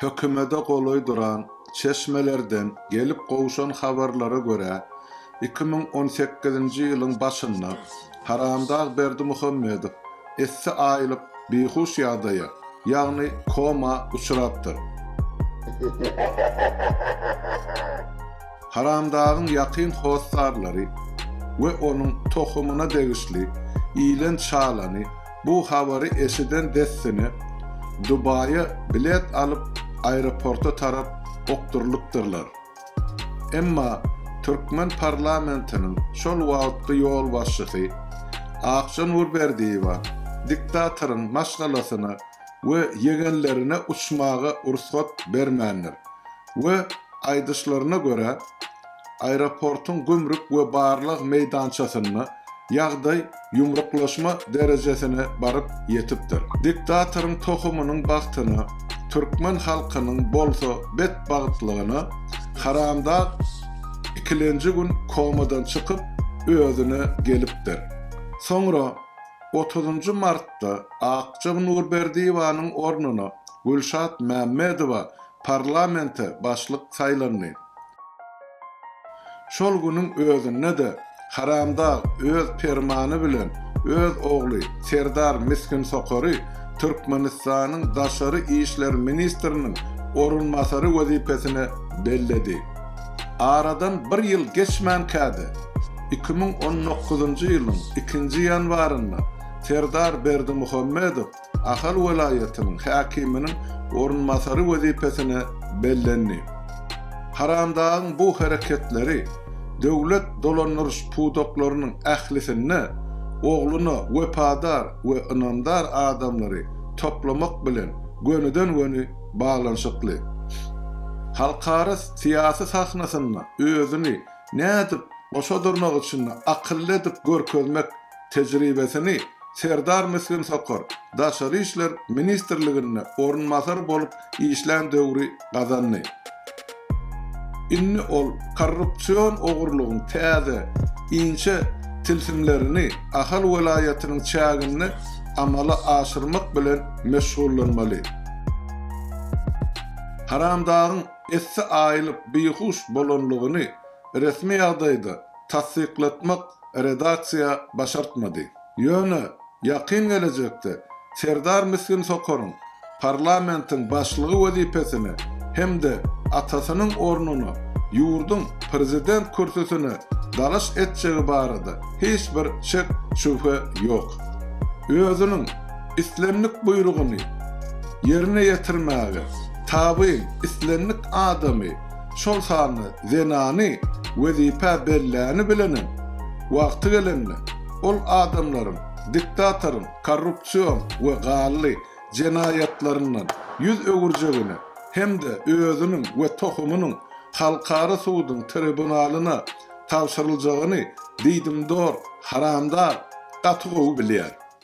Hökümede golaý duran çeşmelerden gelip gowşan habarlara görä, iki müň on sekizinji ýylyň başynda Haramdag Berdimuhamedow essi aýylyp bihuş ýagdaýa, ýagny koma uçrapdyr. Haramdagyň ýakyn hossarlary we onuň tohumyna degişli ilen-çalany Bu habary eşiden dessine Dubaýa bilet alyp aeroporta tarap okdurylypdyrlar. Emma türkmen parlamentiniň şol wagtky ýolbaşçysy Akja Nurberdiýewa diktatoryň maşgalasyna we ýegenlerine uçmaga rugsat bermändir we aýdyşlaryna görä Aeroportyň gümrük we barlag meýdançasynda ýagdaý ýumruklaşma derejesine baryp ýetipdir. Diktatoryň tohumynyň bagtyna, türkmen halkynyň bolsa betbagtlygyna haramdag ikilenji gün komadan çykyp, özüne gelipdir. Soňra otuzynjy martda Akjyk Nurberdiýewanyň ornuna Gülşat Mämmedowa Parlamente başlyk saýlandy. Şol günüň özünde-de haramdag öz permany bilen öz ogly Serdar Misginsokary Türkmenistanyň daşary işler ministriniň orunbasary wezipesine belledi. Aradan bir ýyl geçmänkä-de, iki müň on dokuzynjy ýylyň ikinji ýanwarynda Serdar Berdimuhamedow Ahal welaýatynyň häkiminiň orunbasary wezipesine bellendi. Haramdagyň bu hereketleri döwlet dolandyryş pudaklarynyň ählisinde ogluna wepadar we ynamdar adamlary toplamak bilen gönüden-göni baglanyşykly. Halkara syýasy sahnasynda özüni nädip goşa durnak içinde akylly edip görkezmek Tejribesini Serdar Misgin Sokar Daşary işler ministrliginde orunbasar bolup işlän döwri gazandy. Indi ol korrupsion ogurlygyň täze, inçe tilsimlerini Ahal welaýatynyň çäginde amala aşyrmak bilen meşgullanmaly. Haramdagyň esse aýylyp bihuş bolanlygyny resmi ýagdaýda tassyklatmak redaksiýa başartmady. Ýöne ýakyn gelejekde Serdar Misgin Sokaryň parlamentiň başlygy wezipesine hem-de atasynyň ornuna ýurduň prezident kürsüsine dalaş etjegi barada hiç bir şek-şübhe ýok. Özüniň islendik buýrugyny ýerine ýetirmäge tabyn islendik adamy şol sanda zenany wezipä belläni bilenem, wagty gelende, ol adamlaryň diktatoryň korrupsion we gally jenaýatlaryndan ýüz öwürjegine hem-de özüniň we tohumynyň halkara suduň tribunalyna tabşyryljagyny diýdimdor haramdag gaty gowy bilýär.